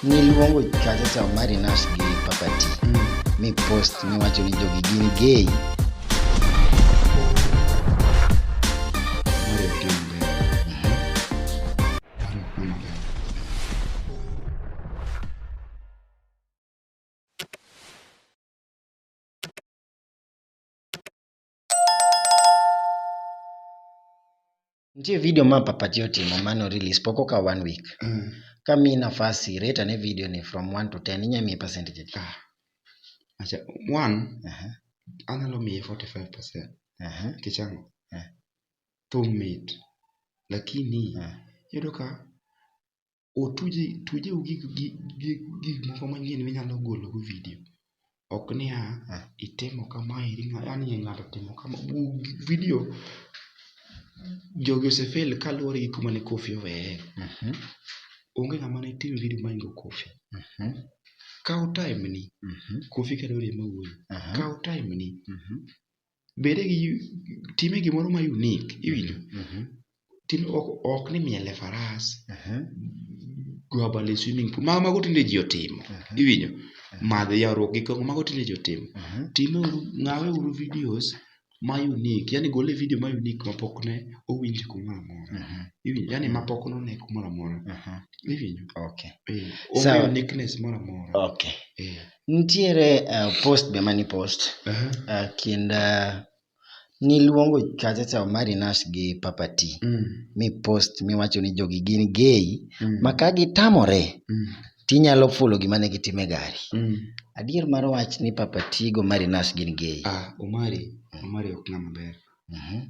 Niluongo Chacha Cha Omari Nash gi Papa T. Mi post miwacho ni jogi gin gay. Mari Opiyo Mgwen. Mari Opiyo Mgwen. Nitie video ma papaji otimo mano release pok okawo one week. Mm. Ka miyi nafas rate ane video ni from 1 to 10 inya miye percentage adi? Ah. Acha one Aha, anyalo miye 45% aha, nikech ang'o? Eh. Thum mit. Lakini ah. yudo ka otuj tujeu gi gik moko manyien minyalo golo go video. Ok niya, itimo kama eri yani ng'ato otimo kama. Video jogi ose fail kaluwore gi kuma ne Koffi oweye. Onge ng'ama ne tim video mohingo Koffi. Kaw time ni, Koffi kata oriembo wuoyi, kaw time ni. bede gi time gimoro ma unique iwinjo Mhm. tim ok, ok ni miele faras Mhm. go abal e swimming pool mago mago tinde ji otimo Mhm. iwinjo madhe yawruok gi kongo mago tinde ji otimo Mhm. time uru ng'awe uru videos ma unique yani gole video ma unique ma pok ne owinj kumoro amora Mhm. iwinjo yani ma pok none kumoro amora Mhm. iwinjo Okay. eh, Sawa. onge uniqueness moro amora Okay. eh. Nitiere uh, post be mani post uh -huh. uh, kind uh, niluongo kachacha Omari Nash gi Papa T mm. mi post miwacho ni jogi gin gay mm. ma ka gitamore mm. tinyalo fulo gima ne gitime gari mm. adier mar wach ni Papa T go Omari Nash gin gay. Ah, Omari, Omari ok ng'ama ber. Mm -hmm.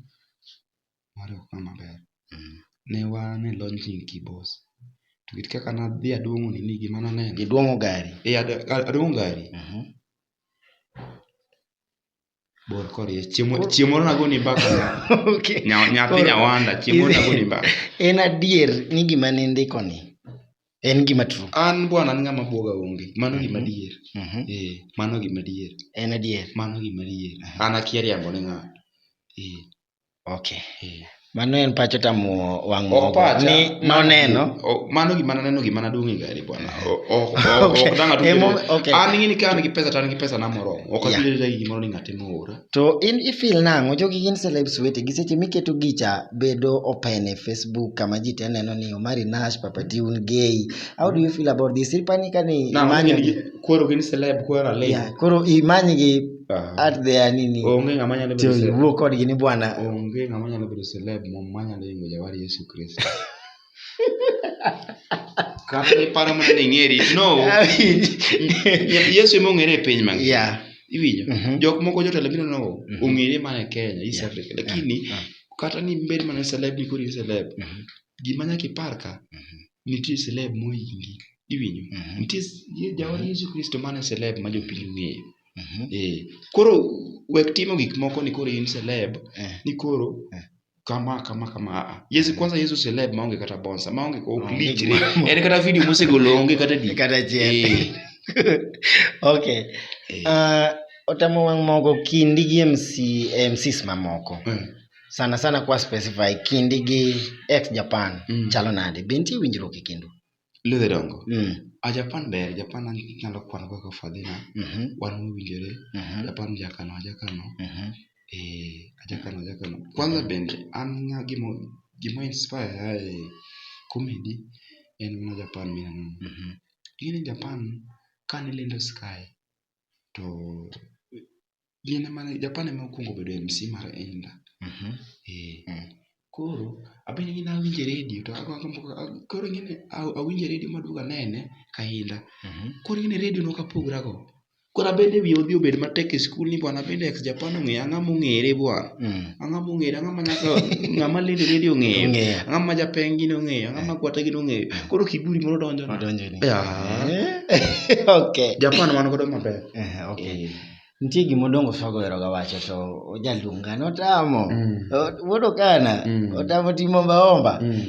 Ne wan e launching ki boss. To kit kaka ne adhi aduong'o nini gima ne aneno. Iduong'o gari? Ee aduong'o gari. Bor korie. Chieng' moro ne agoni mbaka nyathi nyawanda. Chieng' moro ne agoni mbaka. En adier ni gima ne indiko ni en gima true? An bwana an ng'ama buoga onge. Mano gima adier. Ee mano gima adier. En adier? Mano gima adier. An akia riambo ne ng'ato. Ee. Okay. Eh. Mano en pacho tamuo wang' mogo ni noneno. Mano gima naneno gima nadong' e gari bwana. Ok dang' atuo. An ng'ini ka an gi pesa to an gi pesa na moromo. Ok atuo ga gimoro ni ng'ate moora. To in ifil nang'o jogi gin celebs wete gi seche miketo gicha bedo open e Facebook kama ji te neno ni Omari Nash, Papa Tune, Gay. How do you feel about this? Ipani ka ni imanyo. Koro gin celeb koro alego. Koro imanyi gi at their nini onge ng'ama nyalo bedo celeb wuo kodgi ni bwana onge ng'ama nyalo bedo celeb mom manyalo yingo jawar Yesu Kristo kata iparo mana ni ing'eri no Yesu ema ong'ere e piny mangima yeah. iwinjo mm -hmm. jok moko jotelo biro no mm -hmm. ong'ere mana e Kenya East yeah. Africa lakini yeah. kata ni bed mana celeb ni kodi celeb mm -hmm. gima nyaka ipar ka mm -hmm. nitie celeb mohingi iwinjo mhm. nitie jawan mhm. yesu kristo mane celeb ma jopiny ong'eyo mhm. eh, koro wek timo gik moko ni koro in celeb eh. ni koro eh. kama kama kama ah, ah. yesu kwanza yesu celeb maonge kata bonsa maonge ok lichre en kata video mosegolo onge kata di kata chiel okay uh, otamo wang' mogo kindi gi mc mcs mamoko mm. sana sana kwa specify kindi gi ex japan mm. chalo nade be nitie winjruok e kindu ludhe dongo mm. a japan ber japan anyalo kwano kaka fadhina mm -hmm. wan mowinjore mm -hmm. japan jakano ajakano mm -hmm. e eh, ajakano ajakano kwanza mm-hmm. bende an nga gimo gimo inspire ae comedy en mana japan minano mm -hmm. ing'e ni japan kane lendo sky to Gin ema ne Japan ema nokuongo bedo e MC mar Inda. Mhm. Eh. Mm. Koro abende gini awinje redio to ago agombo a- koro ing'e ni a- awinje redio maduogo anene ka Inda. Mhm. Koro ing'e ni redio nok apogra go. Koro abende wiya odhi obed matek e skul ni bwana abende ex Japan ong'eyo ang'a mong'ere bwana. Mm. Ang'a mong'ere ang'a ma nyaka ng'ama lendo e redio ong'eyo. Ong'eyo. Ang'a ma japeng gini ong'eyo ang'a ma gwata gini ong'eyo. Koro kiburi moro donjo. Odonjo ni. Yeah. Eh, Okay. Japan wan godo maber. Eh, okay. Eh. nitie gima odongo sogo eroga wacho to ojaluonga notamo mm. wuod okana mm. otamo timo ombaomba mm.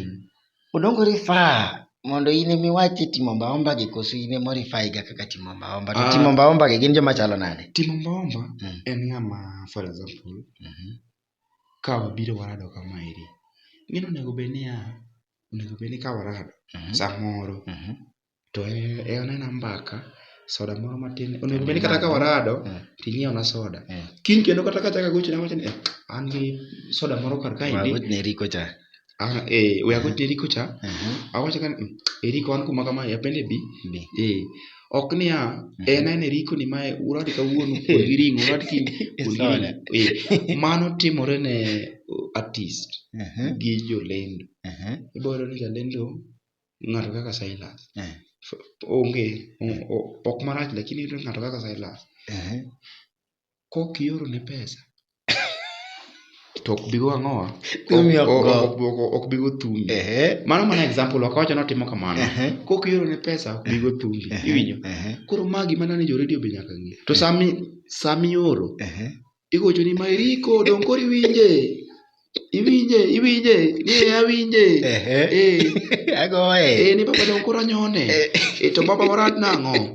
odongo rifaa mondo in ema iwach e timo ombaomba gi koso in ema orifai ga kaka timo ombaomba to ah. timo ombaomba gi gin joma chalo nade timo ombaomba mm. en ng'ama for example mm -hmm. ka wabiro warado kama eri gino onego bed niya onego bed ni ka warado mm -hmm. samoro mm -hmm. To e onena mbaka soda moro matin onego bed ni kata ka warado eh. to inyiewona soda eh. kiny kendo kata ka achako agochone awacho ni eh, an gi soda moro kar ka indi wagochne eriko cha ah, eh we agochne eriko cha uh-huh. awacho ka mm, eriko an kuma kama yapende bi eh ok niya uh-huh. en en eriko ni mae uradi kawuono kuon gi ring'o uradi kiny kuon gi ring'o eh mano timore ne artist uh-huh. gi jolendo ibo yudo ni jalendo Ng'ato kaka Silas. Eh. Onge, o- o- ok marach lakini iyudo ng'ato kaka Silas. Ehe. Kok ioro ne pesa. To ok bigo ang'owa. Thumi ok go. Ok- ok- Ok bigo thumi. Ehe. Mano mana example wakawacho ni otimo kamano. Ehe. Kok ioro ne pesa ok bigo thumi. Iwinjo? Ehe. Koro ma gima nane jo radio be nyaka ng'e. To sami sami oro Ehe. igocho ni Mairiko donge koro iwinje iwinje iwinje ni e awinje Ehe. eh Agoye. eh ni baba donge koro anyone Eh. eh to baba warat nang'o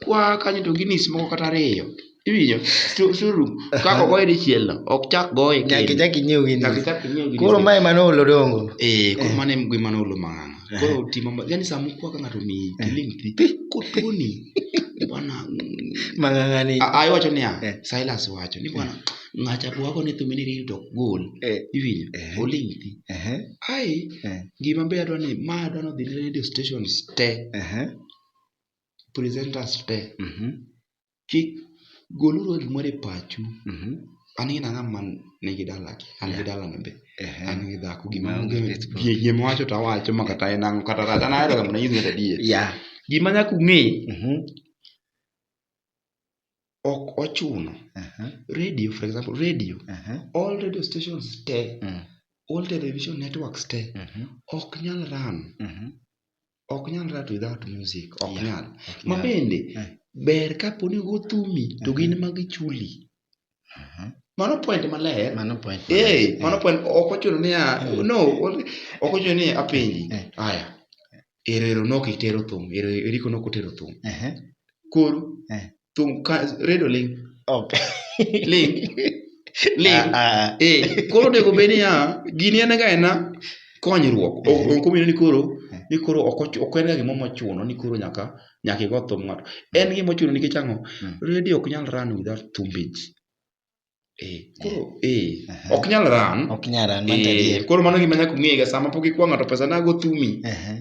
kwa kanyo to ginis moko kata ariyo iwinjo Su- suru kaka ogoye dichiel no ok chak goye Nyaka kendo. ichak inyiew gini. Nyaka ichak inyiew gini. Koro mae mano olo dongo. eh koro mano en gima nolo mang'ang'a koro timo ma- yani sama kwa ka ng'ato omiyi kiling thi kotoni bwana mang'ang'ani a- a- iwacho niya Eh. silas wacho ni bwana ng'acha bwako ni thumini riri to ok gol Eh, iwinjo Eh. oling thi ehe, ai eh, gima be adwa ni ma adwa ni odhi ne radio stations te ehe, presenters te mhm, kik goluru gimoro e pachu. Mhm. An gin ang'a man nigi dala ki, an gi dala na be. Ehe. An gi dhako gima Maonge onge kech bro. gi- gima wacho to awacho ma kata en ang'o kata rach. An ahero ga mondo anyis ng'ato adier. Yeah. Gima nyaka ung'e, Mhm. ok ochuno. Aha. Radio for example, radio, Aha. all radio stations te, Mm. all television networks te Mhm. ok nyal run Mhm. ok nyal rat without music ok Yeah. nyal Ok ma nyal. bende Eh. ber kapo ni go thumi to gin ma gichuli Aha. mano point maler Mano point. eh mano point ok ochuno ni a Eh. no only- ok ochuno ni apenji Eh. haya erero nok itero thum Ero- eriko nok otero thum Ehe. koro Eh. Thum ka redo ling. Ok. Ling. Ling. Ah, ah. Eh, koro onego bed niya, gini en ga ena konyruok. Ok Eh. ok omino ni koro ni koro ok ochu- ok en ga gimoro mochuno ni koro nyaka nyaka igo thum ng'ato. En gima ochuno nikech ang'o? Mm. Radio ok nyal run without thumbage. Eh, koro eh, Aha. ok nyal ran ok nyal ran man Eh, tadier koro mano gima nyaka ung'ega sama pok ikwa ng'ato pesa nago thumi Aha,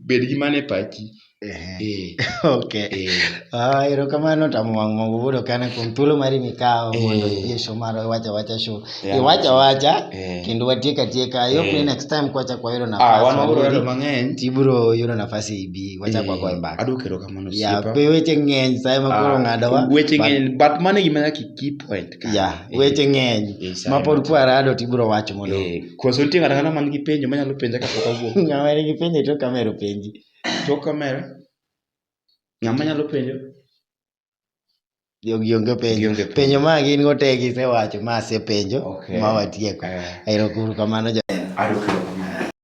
bed gi mane pachi aha. Eh, okay eh. Ah, erokamano tamo wang' mogo wuodo kana kuom thuolo mari mikawo Eh. mondo iyie show mar wacha wacha show Yeah. iwacha wacha Eh. kendo watiek atieka Eh. yopni next time kwachak wayudo Ah, nafas wan wabiro wabudi, lalo mang'eny tibiro yudo nafas ibi wachak Eh, wagoye mbaka adwoko erokamano Mano ya osiepa. be weche ng'eny sa ema koro Ah, ng'adowa weche but- ng'eny but mano e gima nyaka key point ka. ya Eh, weche ng'eny eh, sa ma ema pod to. kwarado to ibiro wacho mondo Eh, koso nitie ng'ato ang'ata man gi penjo manyalo penja kapok awuok ng'ama nigi penjo to kamero penji tok kamera ng'ama nyalo penjo jogi onge penjo Gionge penjo. penjo ma gin go te gisewacho ma asepenjo Okay. ma watieko Eh, ero kuru kamano ja aruka